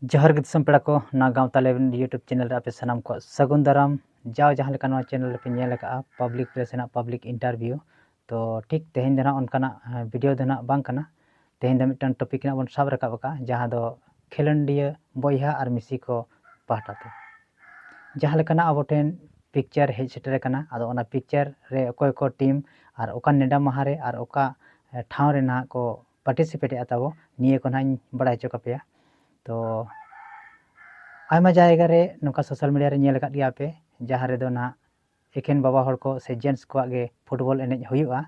ᱡᱚᱦᱟᱨ ᱜᱮ ᱫᱤᱥᱚᱢ ᱯᱮᱲᱟ ᱠᱚ ᱱᱚᱣᱟ ᱜᱟᱶᱛᱟ ᱞᱮᱵᱮᱞ ᱤᱭᱩᱴᱩᱵᱽ ᱪᱮᱱᱮᱞ ᱨᱮ ᱟᱯᱮ ᱥᱟᱱᱟᱢ ᱠᱚᱣᱟᱜ ᱥᱟᱹᱜᱩᱱ ᱫᱟᱨᱟᱢ ᱡᱟᱣ ᱡᱟᱦᱟᱸ ᱞᱮᱠᱟ ᱱᱚᱣᱟ ᱪᱮᱱᱮᱞ ᱨᱮᱯᱮ ᱧᱮᱞ ᱟᱠᱟᱫᱼᱟ ᱯᱟᱵᱽᱞᱤᱠ ᱯᱞᱮᱥ ᱨᱮᱱᱟᱜ ᱯᱟᱵᱽᱞᱤᱠ ᱤᱱᱴᱟᱨᱵᱷᱤᱭᱩ ᱛᱚ ᱴᱷᱤᱠ ᱛᱮᱦᱮᱧ ᱫᱚ ᱱᱟᱦᱟᱜ ᱚᱱᱠᱟᱱᱟᱜ ᱵᱷᱤᱰᱤᱭᱳ ᱫᱚ ᱱᱟᱦᱟᱜ ᱵᱟᱝ ᱠᱟᱱᱟ ᱛᱮᱦᱮᱧ ᱫᱚ ᱢᱤᱫᱴᱟᱝ ᱴᱚᱯᱤᱠ ᱱᱟᱦᱟᱜ ᱵᱚᱱ ᱥᱟᱵ ᱨᱟᱠᱟᱵ ᱟᱠᱟᱫᱼᱟ ᱡᱟᱦᱟᱸ ᱫᱚ ᱠᱷᱮᱞᱳᱰᱤᱭᱟᱹ ᱵᱚᱭᱦᱟ ᱟᱨ ᱢᱤᱥᱤ ᱠᱚ ᱯᱟᱦᱴᱟ ᱛᱮ ᱡᱟᱦᱟᱸ ᱞᱮᱠᱟᱱᱟᱜ ᱟᱵᱚ ᱴᱷᱮᱱ ᱯᱤᱠᱪᱟᱨ ᱦᱮᱡ ᱥᱮᱴᱮᱨ ᱟᱠᱟᱱᱟ ᱟᱫᱚ ᱚᱱᱟ ᱯᱤᱠᱪᱟᱨ ᱨᱮ ᱚᱠᱚᱭ ᱠᱚ ᱴᱤᱢ ᱟᱨ ᱚᱠᱟ ᱱᱮᱰᱟ ᱢᱟᱦᱟ ᱨᱮ ᱟᱨ ᱚᱠᱟ ᱴᱷᱟᱶ ᱨᱮ ᱱᱟᱦᱟᱜ ᱠᱚ ᱯᱟᱨᱴᱤᱥᱤᱯᱮᱴ ᱮᱜᱼᱟ ᱛᱟᱵᱚ ᱱᱤᱭᱟᱹ ᱠᱚ ᱦᱟᱸᱜ ᱤᱧ ᱵᱟᱲᱟᱭ ᱦᱚᱪᱚ ᱠᱟᱯᱮᱭᱟ ᱛᱚ ᱟᱭᱢᱟ ᱡᱟᱭᱜᱟ ᱨᱮ ᱱᱚᱝᱠᱟ ᱥᱳᱥᱟᱞ ᱢᱤᱰᱤᱭᱟ ᱨᱮ ᱧᱮᱞ ᱟᱠᱟᱫ ᱜᱮᱭᱟ ᱯᱮ ᱡᱟᱦᱟᱸ ᱨᱮᱫᱚ ᱦᱟᱸᱜ ᱮᱠᱷᱮᱱ ᱵᱟᱵᱟ ᱦᱚᱲ ᱠᱚ ᱥᱮ ᱡᱮᱱᱴᱥ ᱠᱚᱣᱟᱜ ᱜᱮ ᱯᱷᱩᱴᱵᱚᱞ ᱮᱱᱮᱡ ᱦᱩᱭᱩᱜᱼᱟ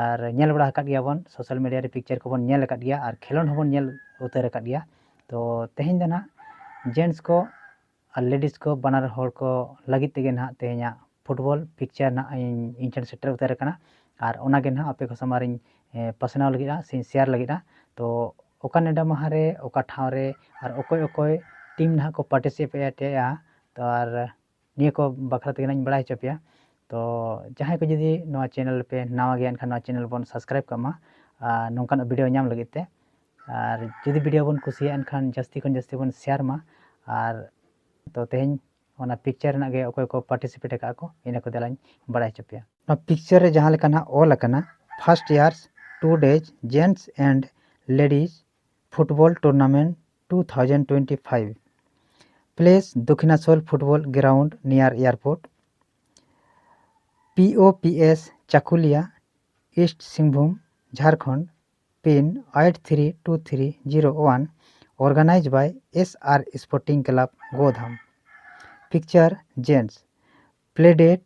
ᱟᱨ ᱧᱮᱞ ᱵᱟᱲᱟ ᱟᱠᱟᱫ ᱜᱮᱭᱟ ᱵᱚᱱ ᱥᱳᱥᱟᱞ ᱢᱤᱰᱤᱭᱟ ᱨᱮ ᱯᱤᱠᱪᱟᱨ ᱠᱚᱵᱚᱱ ᱧᱮᱞ ᱟᱠᱟᱫ ᱜᱮᱭᱟ ᱟᱨ ᱠᱷᱮᱞᱳᱰ ᱦᱚᱸᱵᱚᱱ ᱧᱮᱞ ᱩᱛᱟᱹᱨ ᱟᱠᱟᱫ ᱜᱮᱭᱟ ᱛᱚ ᱛᱮᱦᱮᱧ ᱫᱚ ᱦᱟᱸᱜ ᱡᱮᱱᱴᱥ ᱠᱚ ᱟᱨ ᱞᱮᱰᱤᱥ ᱠᱚ ᱵᱟᱱᱟᱨ ᱦᱚᱲ ᱠᱚ ᱞᱟᱹᱜᱤᱫ ᱛᱮᱜᱮ ᱱᱟᱦᱟᱜ ᱛᱮᱦᱮᱧᱟᱜ ᱯᱷᱩᱴᱵᱚᱞ ᱯᱤᱠᱪᱟᱨ ᱱᱟᱜ ᱤᱧ ᱤᱧ ᱴᱷᱮᱱ ᱥᱮᱴᱮᱨ ᱩᱛᱟᱹᱨ ᱟᱠᱟᱱᱟ ᱟᱨ ᱚᱱᱟ ᱜᱮ ᱱᱟᱦᱟᱜ ᱟᱯᱮ ᱠᱚ ᱥᱟᱢᱟᱝ ᱨᱤᱧ ᱯᱟᱥᱱᱟᱣ ᱞᱟᱹᱜᱤᱫᱼᱟ ᱥᱮᱧ ᱥᱮᱭᱟᱨ ᱞᱟᱹᱜᱤᱫᱼᱟ ᱛᱚ ᱚᱠᱟ ᱱᱮᱰᱟ ᱢᱟᱦᱟ ᱨᱮ ᱚᱠᱟ ᱴᱷᱟᱶ ᱨᱮ ᱟᱨ ᱚᱠᱚᱭ ᱚᱠᱚᱭ ᱴᱤᱢ ᱱᱟᱦᱟᱜ ᱠᱚ ᱯᱟᱨᱴᱤᱥᱤᱯᱮᱴ ᱮᱫᱼᱟ ᱛᱚ ᱟᱨ ᱱᱤᱭᱟᱹ ᱠᱚ ᱵᱟᱠᱷᱨᱟ ᱛᱮᱜᱮ ᱱᱟᱦᱟᱜ ᱤᱧ ᱵᱟᱲᱟᱭ ᱦᱚᱪᱚ ᱯᱮᱭᱟ ᱛᱚ ᱡᱟᱦᱟᱸᱭ ᱠᱚ ᱡᱩᱫᱤ ᱱᱚᱣᱟ ᱪᱮᱱᱮᱞ ᱯᱮ ᱱᱟᱣᱟ ᱜᱮᱭᱟ ᱮᱱᱠᱷᱟᱱ ᱱᱚᱣᱟ ᱪᱮᱱᱮᱞ ᱵᱚᱱ ᱥᱟᱵᱥᱠᱨᱟᱭᱤᱵᱽ ᱠᱟᱜ ᱢᱟ ᱟᱨ ᱱᱚᱝᱠᱟᱱᱟᱜ ᱵᱷᱤᱰᱭᱳ ᱧᱟᱢ ᱞᱟᱹᱜᱤᱫ ᱛᱮ ᱟᱨ ᱡᱩᱫᱤ ᱵᱷᱤᱰᱤᱭᱳ ᱵᱚᱱ ᱠᱩᱥᱤᱭᱟᱜᱼᱟ ᱮᱱᱠᱷᱟᱱ ᱡᱟᱹᱥᱛᱤ ᱠᱷᱚᱱ ᱡᱟᱹᱥᱛᱤ ᱵᱚᱱ ᱥᱮᱭᱟᱨ ᱢᱟ ᱟᱨ ᱛᱚ ᱛᱮᱦᱮᱧ ᱚᱱᱟ ᱯᱤᱠᱪᱟᱨ ᱨᱮᱱᱟᱜ ᱜᱮ ᱚᱠᱚᱭ ᱠᱚ ᱯᱟᱨᱴᱤᱥᱤᱯᱮᱴ ᱟᱠᱟᱫ ᱟᱠᱚ ᱤᱱᱟᱹ ᱠᱚ ᱫᱮᱞᱟᱧ ᱵᱟᱲᱟᱭ ᱦᱚᱪᱚ ᱯᱮᱭᱟ ᱱᱚᱣᱟ ᱯᱤᱠᱪᱟᱨ ᱨᱮ ᱡᱟᱦᱟᱸ ᱞᱮᱠᱟ ᱱᱟᱦᱟᱜ ᱚᱞ ᱟᱠᱟᱱᱟ first years two days gents and ladies football tournament two thousand twenty five place Dakhinasol football ground near airport P O P S Chakulia east Singhbhum Jharkhand pin eight three two three zero one organised by S R sporting club Godham picture gents play date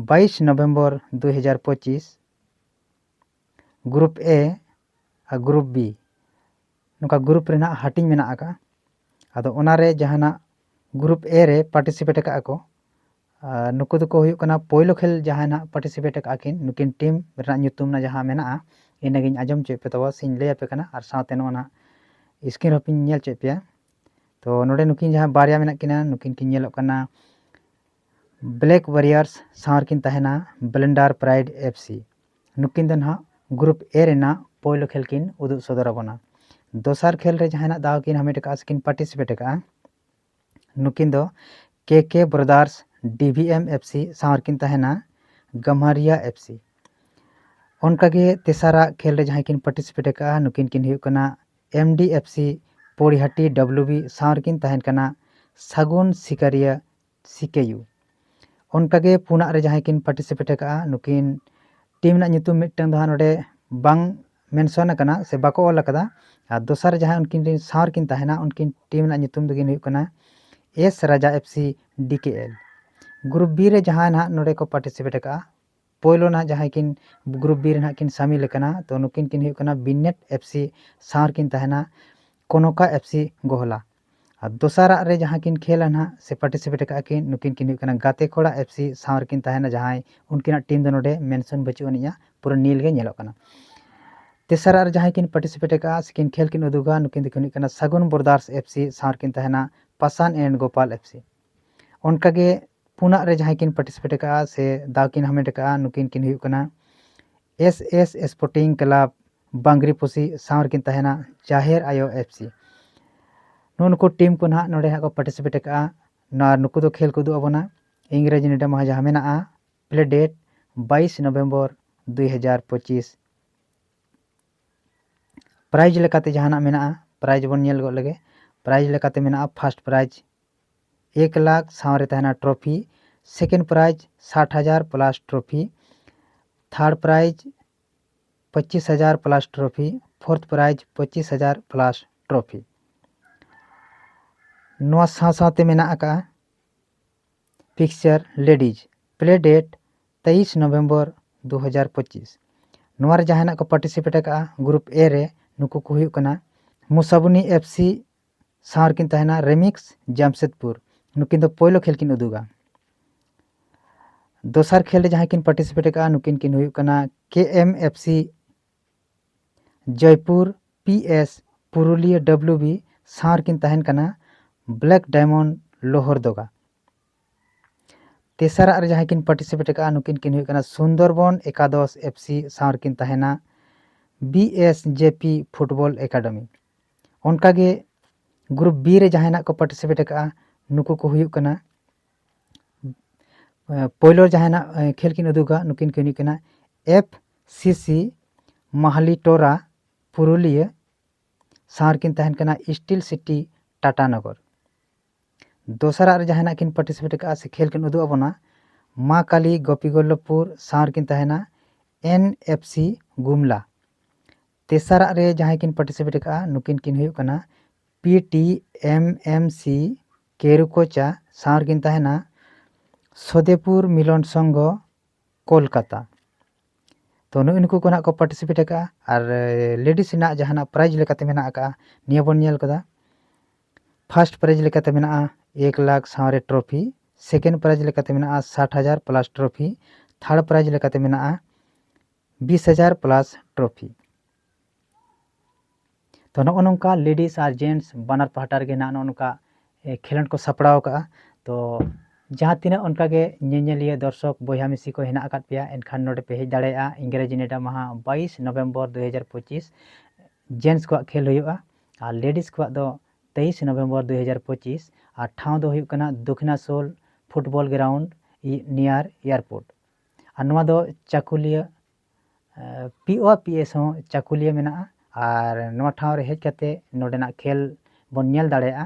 ᱵᱟᱭᱤᱥ ᱱᱚᱵᱷᱮᱢᱵᱚᱨ ᱫᱩ ᱦᱟᱡᱟᱨ ᱯᱚᱸᱪᱤᱥ group A ᱟᱨ group B ᱱᱚᱝᱠᱟ ᱜᱨᱩᱯ ᱨᱮᱱᱟᱜ ᱦᱟᱹᱴᱤᱧ ᱢᱮᱱᱟᱜ ᱟᱠᱟᱫᱼᱟ ᱟᱫᱚ ᱚᱱᱟᱨᱮ ᱡᱟᱦᱟᱱᱟᱜ ᱜᱨᱩᱯ ᱮ ᱨᱮ ᱯᱟᱨᱴᱤᱥᱤᱯᱮᱴ ᱟᱠᱟᱫ ᱟᱠᱚ ᱱᱩᱠᱩ ᱫᱚᱠᱚ ᱦᱩᱭᱩᱜ ᱠᱟᱱᱟ ᱯᱳᱭᱞᱳ ᱠᱷᱮᱞ ᱡᱟᱦᱟᱸᱭ ᱱᱟᱦᱟᱜ ᱯᱟᱨᱴᱤᱥᱤᱯᱮᱴ ᱟᱠᱟᱫ ᱟᱹᱠᱤᱱ ᱱᱩᱠᱤᱱ ᱴᱤᱢ ᱨᱮᱱᱟᱜ ᱧᱩᱛᱩᱢ ᱨᱮᱱᱟᱜ ᱡᱟᱦᱟᱸ ᱢᱮᱱᱟᱜᱼᱟ ᱤᱱᱟᱹᱜᱤᱧ ᱟᱸᱡᱚᱢ ᱦᱚᱪᱚᱭᱮᱫ ᱯᱮ ᱛᱟᱵᱚᱱᱟ ᱥᱮᱧ ᱞᱟᱹᱭ ᱟᱯᱮ ᱠᱟᱱᱟ ᱟᱨ ᱥᱟᱶᱛᱮ ᱱᱚᱜᱼᱚ ᱱᱟ ᱥᱠᱨᱤᱱ ᱦᱚᱸᱯᱤᱧ ᱧᱮᱞ ᱦᱚᱪᱚᱭᱮᱫ ᱯᱮᱭᱟ ᱛᱚ ᱱᱚᱰᱮ ᱱᱩᱠᱤᱱ ᱡᱟᱦᱟᱸ ᱵᱟᱨᱭᱟ ᱢᱮᱱᱟᱜ ᱠᱤᱱᱟ ᱱᱩᱠᱤᱱ ᱠᱤᱱ ᱧᱮᱞᱚᱜ ᱠᱟᱱᱟ ᱵᱞᱮᱠ ᱣᱟᱨᱤᱭᱟᱨᱥ ᱥᱟᱶ ᱨᱮᱠᱤᱱ ᱛᱟᱦᱮᱱᱟ ᱵᱞᱮᱱᱰᱟᱨ ᱯᱨᱟᱭᱤᱰ ᱮᱯᱷ ᱥᱤ ᱱᱩᱠᱤᱱ ᱫᱚ ᱱᱟᱦᱟᱜ ᱜᱨᱩᱯ ᱮ ᱨᱮᱱᱟᱜ ᱯᱳᱭᱞᱳ ᱠᱷᱮᱞ ᱠᱤᱱ ᱩᱫᱩᱜ ᱥᱚᱫᱚᱨ ᱟᱵᱚᱱᱟ ᱫᱚᱥᱟᱨ ᱠᱷᱮᱞ ᱨᱮ ᱡᱟᱦᱟᱸᱭ ᱱᱟᱦᱟᱜ ᱫᱟᱣ ᱠᱤᱱ ᱦᱟᱢᱮᱴ ᱟᱠᱟᱫᱼᱟ ᱥᱮᱠᱤᱱ ᱯᱟᱨᱴᱤᱥᱤᱯᱮᱴ ᱟᱠᱟᱫᱼᱟ ᱱᱩᱠᱤᱱ ᱫᱚ ᱠᱮ ᱠᱮ ᱵᱨᱚᱫᱟᱨᱥ ᱰᱤᱵᱷᱤᱮᱢ ᱮᱯᱷ ᱥᱤ ᱥᱟᱶ ᱨᱮᱠᱤᱱ ᱛᱟᱦᱮᱱᱟ ᱜᱟᱢᱟᱨᱤᱭᱟ ᱮᱯᱷ ᱥᱤ ᱚᱱᱠᱟᱜᱮ ᱛᱮᱥᱟᱨᱟᱜ ᱠᱷᱮᱞ ᱨᱮ ᱡᱟᱦᱟᱸᱭ ᱠᱤᱱ ᱯᱟᱨᱴᱤᱥᱤᱯᱮᱴ ᱟᱠᱟᱫᱼᱟ ᱱᱩᱠᱤᱱ ᱠᱤᱱ ᱦᱩᱭᱩᱜ ᱠᱟᱱᱟ M D F C Poraiyahat W B ᱥᱟᱶ ᱨᱮᱠᱤᱱ ᱛᱟᱦᱮᱱ ᱠᱟᱱᱟ ᱥᱟᱹᱜᱩᱱ ᱥᱤᱠᱟᱹᱨᱤᱭᱟᱹ ᱥᱤᱠᱮ ᱭᱩ ᱚᱱᱠᱟᱜᱮ ᱯᱩᱱᱟᱜ ᱨᱮ ᱡᱟᱦᱟᱸᱭ ᱠᱤᱱ ᱯᱟᱨᱴᱤᱥᱤᱯᱮᱴ ᱟᱠᱟᱜᱼᱟ ᱱᱩᱠᱤᱱ ᱴᱤᱢ ᱨᱮᱱᱟᱜ ᱧᱩᱛᱩᱢ ᱢᱤᱫᱴᱟᱝ ᱫᱚ ᱦᱟᱸᱜ ᱱᱚᱰᱮ ᱵᱟᱝ ᱢᱮᱱᱥᱚᱱ ᱟᱠᱟᱱᱟ ᱥᱮ ᱵᱟᱠᱚ ᱚᱞ ᱟᱠᱟᱫᱟ ᱟᱨ ᱫᱚᱥᱟᱨ ᱨᱮ ᱡᱟᱦᱟᱸᱭ ᱩᱱᱠᱤᱱ ᱨᱮᱱ ᱥᱟᱶ ᱨᱮᱠᱤᱱ ᱛᱟᱦᱮᱱᱟ ᱩᱱᱠᱤᱱ ᱴᱤᱢ ᱨᱮᱱᱟᱜ ᱧᱩᱛᱩᱢ ᱫᱚᱠᱤᱱ ᱦᱩᱭᱩᱜ ᱠᱟᱱᱟ S Raja F C D K L group B ᱨᱮ ᱡᱟᱦᱟᱸᱭ ᱱᱟᱦᱟᱜ ᱱᱚᱰᱮ ᱠᱚ ᱯᱟᱨᱴᱤᱥᱤᱯᱮᱴ ᱟᱠᱟᱜᱼᱟ ᱯᱳᱭᱞᱳ ᱱᱟᱦᱟᱜ ᱡᱟᱦᱟᱸᱭ ᱠᱤᱱ ᱜᱨᱩᱯ ᱵᱤ ᱨᱮ ᱱᱟᱦᱟᱜ ᱠᱤᱱ ᱥᱟᱢᱤᱞ ᱟᱠᱟᱱᱟ ᱛᱚ ᱱᱩᱠᱤᱱ ᱠᱤᱱ ᱦᱩᱭᱩᱜ ᱠᱟᱱᱟ ᱵᱤᱱᱮᱴ ᱮᱯᱷ ᱥᱤ ᱥᱟᱶ ᱨᱮᱠᱤᱱ ᱛᱟᱦᱮᱱᱟ ᱠᱚᱱᱚᱠᱟ ᱮᱯᱷ ᱥᱤ ᱜᱚᱦᱚᱞᱟ ᱟᱨ ᱫᱚᱥᱟᱨᱟᱜ ᱨᱮ ᱡᱟᱦᱟᱸ ᱠᱤᱱ ᱠᱷᱮᱞᱟ ᱱᱟᱦᱟᱜ ᱥᱮ ᱯᱟᱨᱴᱤᱥᱤᱯᱮᱴ ᱟᱠᱟᱫ ᱠᱤᱱ ᱱᱩᱠᱤᱱ ᱠᱤᱱ ᱦᱩᱭᱩᱜ ᱠᱟᱱᱟ ᱜᱟᱛᱮ ᱠᱚᱲᱟ ᱮᱯᱷ ᱥᱤ ᱥᱟᱶ ᱨᱮᱠᱤᱱ ᱛᱟᱦᱮᱱᱟ ᱡᱟᱦᱟᱸᱭ ᱩᱱᱠᱤᱱᱟᱜ ᱴᱤᱢ ᱫᱚ ᱱᱚᱰᱮ ᱢᱮᱱᱥᱚᱱ ᱵᱟᱹᱪᱩᱜ ᱟᱹᱱᱤᱡᱼᱟ ᱯᱩᱨᱟᱹ ᱱᱤᱞ ᱜᱮ ᱧᱮᱞᱚᱜ ᱠᱟᱱᱟ ᱛᱮᱥᱟᱨᱟᱜ ᱨᱮ ᱡᱟᱦᱟᱸᱭ ᱠᱤᱱ ᱯᱟᱨᱴᱤᱥᱤᱯᱮᱴ ᱟᱠᱟᱫᱼᱟ ᱥᱮ ᱠᱤᱱ ᱠᱷᱮᱞ ᱠᱤᱱ ᱩᱫᱩᱜᱟ ᱱᱩᱠᱤᱱ ᱫᱚᱠᱤᱱ ᱦᱩᱭᱩᱜ ᱠᱟᱱᱟ ᱥᱟᱹᱜᱩᱱ ᱵᱨᱚᱫᱟᱨᱥ ᱮᱯᱷ ᱥᱤ ᱥᱟᱶ ᱨᱮᱠᱤᱱ ᱛᱟᱦᱮᱱᱟ Pasan and Gopal F C ᱚᱱᱠᱟ ᱜᱮ ᱯᱩᱱᱟᱜ ᱨᱮ ᱡᱟᱦᱟᱸᱭ ᱠᱤᱱ ᱯᱟᱨᱴᱤᱥᱤᱯᱮᱴ ᱟᱠᱟᱫᱼᱟ ᱥᱮ ᱫᱟᱣ ᱠᱤᱱ ᱦᱟᱢᱮᱴ ᱟᱠᱟᱫᱼᱟ ᱱᱩᱠᱤᱱ ᱠᱤᱱ ᱦᱩᱭᱩᱜ ᱠᱟᱱᱟ S S sporting club Bangriposi ᱯᱩᱥᱤ ᱥᱟᱶ ᱨᱮᱠᱤᱱ ᱛᱟᱦᱮᱱᱟ ᱡᱟᱦᱮᱨ ᱟᱭᱳ ᱮᱯᱷ ᱥᱤ ᱱᱩᱜᱼᱩ ᱱᱩᱠᱩ ᱴᱤᱢ ᱠᱚ ᱱᱟᱦᱟᱜ ᱱᱚᱰᱮ ᱦᱟᱸᱜ ᱠᱚ ᱯᱟᱨᱴᱤᱥᱤᱯᱮᱴ ᱟᱠᱟᱫᱼᱟ ᱱᱚᱣᱟ ᱱᱩᱠᱩ ᱫᱚ ᱠᱷᱮᱞ ᱠᱚ ᱩᱫᱩᱜ ᱟᱵᱚᱱᱟ ᱤᱝᱨᱮᱡᱤ ᱱᱤᱰᱟᱹ ᱢᱟᱦᱟ ᱡᱟᱦᱟᱸ ᱢᱮᱱᱟᱜᱼᱟ ᱯᱞᱮ ᱰᱮᱴ ᱵᱟᱭᱤᱥ ᱱᱚᱵᱷᱮᱢᱵᱚᱨ ᱫᱩᱭ ᱦᱟᱡᱟᱨ ᱯᱚᱸᱪᱤᱥ ᱯᱨᱟᱭᱤᱡᱽ ᱞᱮᱠᱟᱛᱮ ᱡᱟᱦᱟᱱᱟᱜ ᱢᱮᱱᱟᱜᱼᱟ ᱯᱨᱟᱭᱤᱡᱽ ᱵᱚᱱ ᱧᱮᱞ ᱜᱚᱫ ᱞᱮᱜᱮ ᱯᱨᱟᱭᱤᱡᱽ ᱞᱮᱠᱟᱛᱮ ᱢᱮᱱᱟᱜᱼᱟ ᱯᱷᱟᱥᱴ ᱯᱨᱟᱭᱤᱡᱽ ᱮᱠ ᱞᱟᱠᱷ ᱥᱟᱶᱨᱮ ᱛᱟᱦᱮᱱᱟ ᱴᱨᱚᱯᱷᱤ ᱥᱮᱠᱮᱱᱰ ᱯᱨᱟᱭᱤᱡᱽ ᱥᱟᱴ ᱦᱟᱡᱟᱨ ᱯᱞᱟᱥ ᱴᱨᱚᱯᱷᱤ ᱛᱷᱟᱨᱰ ᱯᱨᱟᱭᱤᱡᱽ ᱯᱚᱸᱪᱤᱥ ᱦᱟᱡᱟᱨ ᱯᱞᱟᱥ ᱴᱨᱚᱯᱷᱤ ᱯᱷᱳᱨᱛᱷ ᱯᱨᱟᱭᱤᱡᱽ ᱯᱚᱸᱪᱤᱥ ᱦᱟᱡᱟᱨ ᱯᱞᱟᱥ ᱴᱨᱚᱯᱷᱤ ᱱᱚᱣᱟ ᱥᱟᱶ ᱥᱟᱶᱛᱮ ᱢᱮᱱᱟᱜ ᱟᱠᱟᱫᱼᱟ ᱯᱤᱠᱪᱟᱨ ᱞᱮᱰᱤᱡᱽ ᱯᱞᱮ ᱰᱮᱴ ᱛᱮᱭᱤᱥ ᱱᱚᱵᱷᱮᱢᱵᱚᱨ ᱫᱩ ᱦᱟᱡᱟᱨ ᱯᱚᱸᱪᱤᱥ ᱱᱚᱣᱟ ᱨᱮ ᱡᱟᱦᱟᱸᱭ ᱱᱟᱜ ᱠᱚ ᱯᱟᱨᱴᱤᱥᱤᱯᱮᱴ ᱟᱠᱟᱫᱼᱟ ᱜᱨᱩᱯ ᱮ ᱨᱮ ᱱᱩᱠᱩ ᱠᱚ ᱦᱩᱭᱩᱜ ᱠᱟᱱᱟ ᱢᱩᱥᱟᱵᱩᱱᱤ ᱮᱯᱷ ᱥᱤ ᱥᱟᱶ ᱨᱮᱠᱤᱱ ᱛᱟᱦᱮᱱᱟ ᱨᱮᱢᱤᱠᱥ ᱡᱟᱢᱥᱮᱫᱽᱯᱩᱨ ᱱᱩᱠᱤᱱ ᱫᱚ ᱯᱳᱭᱞᱳ ᱠᱷᱮᱞ ᱠᱤᱱ ᱩᱫᱩᱜᱟ ᱫᱚᱥᱟᱨ ᱠᱷᱮᱞ ᱨᱮ ᱡᱟᱦᱟᱸᱭ ᱠᱤᱱ ᱯᱟᱨᱴᱤᱥᱤᱯᱮᱴ ᱟᱠᱟᱫᱼᱟ ᱱᱩᱠᱤᱱ ᱠᱤᱱ ᱦᱩᱭᱩᱜ ᱠᱟᱱᱟ K M F C Joypur P S Purulia W B ᱥᱟᱶ ᱨᱮᱠᱤᱱ ᱛᱟᱦᱮᱱ ᱠᱟᱱᱟ ᱵᱞᱮᱠ ᱰᱟᱭᱢᱚᱱᱰ ᱞᱳᱦᱚᱨᱫᱚᱜᱟ ᱛᱮᱥᱟᱨᱟᱜ ᱨᱮ ᱡᱟᱦᱟᱸᱭ ᱠᱤᱱ ᱯᱟᱨᱴᱤᱥᱤᱯᱮᱴ ᱟᱠᱟᱫᱼᱟ ᱱᱩᱠᱤᱱ ᱠᱤᱱ ᱦᱩᱭᱩᱜ ᱠᱟᱱᱟ ᱥᱩᱱᱫᱚᱨᱵᱚᱱ ᱮᱠᱟᱫᱚᱥ ᱮᱯᱷ ᱥᱤ ᱥᱟᱶ ᱨᱮᱠᱤᱱ ᱛᱟᱦᱮᱱᱟ B S J P football academy ᱚᱱᱠᱟᱜᱮ ᱜᱨᱩᱯ ᱵᱤ ᱨᱮ ᱡᱟᱦᱟᱸᱭ ᱱᱟᱜ ᱠᱚ ᱯᱟᱨᱴᱤᱥᱤᱯᱮᱴ ᱟᱠᱟᱫᱼᱟ ᱱᱩᱠᱩ ᱠᱚ ᱦᱩᱭᱩᱜ ᱠᱟᱱᱟ ᱯᱳᱭᱞᱳ ᱡᱟᱦᱟᱸᱭ ᱱᱟᱜ ᱠᱷᱮᱞ ᱠᱤᱱ ᱩᱫᱩᱜᱟ ᱱᱩᱠᱤᱱ ᱠᱤᱱ ᱦᱩᱭᱩᱜ ᱠᱟᱱᱟ ᱮᱯᱷ ᱥᱤ ᱥᱤ ᱢᱟᱦᱞᱤ ᱴᱳᱨᱟ ᱯᱩᱨᱩᱞᱤᱭᱟᱹ ᱥᱟᱶ ᱨᱮᱠᱤᱱ ᱛᱟᱦᱮᱱ ᱠᱟᱱᱟ ᱥᱴᱤᱞ ᱥᱤᱴᱤ ᱴᱟᱴᱟᱱᱚᱜᱚᱨ ᱫᱚᱥᱟᱨᱟᱜ ᱨᱮ ᱡᱟᱦᱟᱸᱭ ᱱᱟᱜ ᱠᱤᱱ ᱯᱟᱨᱴᱤᱥᱤᱯᱮᱴ ᱟᱠᱟᱫᱼᱟ ᱥᱮ ᱠᱷᱮᱞ ᱠᱤᱱ ᱩᱫᱩᱜ ᱟᱵᱚᱱᱟ ᱢᱟ ᱠᱟᱞᱤ ᱜᱳᱯᱤ ᱜᱚᱞᱞᱚᱵᱷᱯᱩᱨ ᱥᱟᱶ ᱨᱮᱠᱤᱱ ᱛᱟᱦᱮᱱᱟ ᱮᱱ ᱮᱯᱷ ᱥᱤ ᱜᱩᱢᱞᱟ ᱛᱮᱥᱟᱨᱟᱜ ᱨᱮ ᱡᱟᱦᱟᱸᱭ ᱠᱤᱱ ᱯᱟᱨᱴᱤᱥᱤᱯᱮᱴ ᱟᱠᱟᱫᱼᱟ ᱱᱩᱠᱤᱱ ᱠᱤᱱ ᱦᱩᱭᱩᱜ ᱠᱟᱱᱟ ᱯᱤ ᱴᱤ ᱮᱢ ᱮᱢ ᱥᱤ ᱠᱮᱨᱩᱠᱳᱪᱟ ᱥᱟᱶ ᱨᱮᱠᱤᱱ ᱛᱟᱦᱮᱱᱟ ᱥᱚᱫᱮᱯᱩᱨ ᱢᱤᱞᱚᱱ ᱥᱚᱝᱜᱷᱚ ᱠᱳᱞᱠᱟᱛᱟ ᱛᱚ ᱱᱩᱜᱼᱩ ᱱᱩᱠᱩ ᱠᱚ ᱱᱟᱜ ᱠᱚ ᱯᱟᱨᱴᱤᱥᱤᱯᱮᱴ ᱟᱠᱟᱜᱼᱟ ᱟᱨ ᱞᱮᱰᱤᱥ ᱨᱮᱱᱟᱜ ᱡᱟᱦᱟᱱᱟᱜ ᱯᱨᱟᱭᱤᱡᱽ ᱞᱮᱠᱟᱛᱮ ᱢᱮᱱᱟᱜ ᱟᱠᱟᱜᱼᱟ ᱱᱤᱭᱟᱹ ᱵᱚᱱ ᱧᱮᱞ ᱠᱟᱫᱟ ᱯᱷᱟᱨᱥᱴ ᱯᱨᱟᱭᱤᱡᱽ ᱞᱮᱠᱟᱛᱮ ᱢᱮᱱᱟᱜᱼᱟ ᱮᱠ ᱞᱟᱠᱷ ᱥᱟᱶᱨᱮ ᱴᱨᱚᱯᱷᱤ ᱥᱮᱠᱮᱱᱰ ᱯᱨᱟᱭᱤᱡᱽ ᱞᱮᱠᱟᱛᱮ ᱢᱮᱱᱟᱜᱼᱟ ᱥᱟᱴ ᱦᱟᱡᱟᱨ ᱯᱞᱟᱥ ᱴᱨᱚᱯᱷᱤ ᱛᱷᱟᱨᱰ ᱯᱨᱟᱭᱤᱡᱽ ᱞᱮᱠᱟᱛᱮ ᱢᱮᱱᱟᱜᱼᱟ ᱵᱤᱥ ᱦᱟᱡᱟᱨ ᱯᱞᱟᱥ ᱴᱨᱚᱯᱷᱤ ᱛᱚ ᱱᱚᱜᱼᱚ ᱱᱚᱝᱠᱟ ᱞᱮᱰᱤᱥ ᱟᱨ ᱡᱮᱱᱴᱥ ᱵᱟᱱᱟᱨ ᱯᱟᱦᱴᱟ ᱨᱮᱜᱮ ᱱᱟᱜ ᱱᱚᱜᱼᱚ ᱱᱚᱝᱠᱟ ᱠᱷᱮᱞᱳᱰ ᱠᱚ ᱥᱟᱯᱲᱟᱣ ᱠᱟᱜᱼᱟ ᱛᱚ ᱡᱟᱦᱟᱸ ᱛᱤᱱᱟᱹᱜ ᱚᱱᱠᱟᱜᱮ ᱧᱮᱧᱮᱞᱤᱭᱟᱹ ᱫᱚᱨᱥᱚᱠ ᱵᱚᱭᱦᱟ ᱢᱤᱥᱤ ᱠᱚ ᱦᱮᱱᱟᱜ ᱟᱠᱟᱫ ᱯᱮᱭᱟ ᱮᱱᱠᱷᱟᱱ ᱱᱚᱰᱮ ᱯᱮ ᱦᱮᱡ ᱫᱟᱲᱮᱭᱟᱜᱼᱟ ᱤᱝᱨᱮᱡᱤ ᱱᱮᱰᱟ ᱢᱟᱦᱟ ᱵᱟᱭᱤᱥ ᱱᱚᱵᱷᱮᱢᱵᱚᱨ ᱫᱩ ᱦᱟᱡᱟᱨ ᱯᱚᱸᱪᱤᱥ ᱡᱮᱱᱴᱥ ᱠᱚᱣᱟᱜ ᱠᱷᱮᱞ ᱦᱩᱭᱩᱜᱼᱟ ᱟᱨ ᱞᱮᱰᱤᱥ ᱠᱚᱣᱟᱜ ᱫᱚ ᱛᱮᱭᱤᱥ ᱱᱚᱵᱷᱮᱢᱵᱚᱨ ᱫᱩ ᱦᱟᱡᱟᱨ ᱯᱚᱸᱪᱤᱥ ᱟᱨ ᱴᱷᱟᱶ ᱫᱚ ᱦᱩᱭᱩᱜ ᱠᱟᱱᱟ Dakhinasol football ground near airport ᱟᱨ ᱱᱚᱣᱟ ᱫᱚ Chakulia P O P S ᱦᱚᱸ ᱪᱟᱹᱠᱩᱞᱤᱭᱟᱹ ᱢᱮᱱᱟᱜᱼᱟ ᱟᱨ ᱱᱚᱣᱟ ᱴᱷᱟᱶ ᱨᱮ ᱦᱮᱡ ᱠᱟᱛᱮ ᱱᱚᱰᱮᱱᱟᱜ ᱠᱷᱮᱞ ᱵᱚᱱ ᱧᱮᱞ ᱫᱟᱲᱮᱭᱟᱜᱼᱟ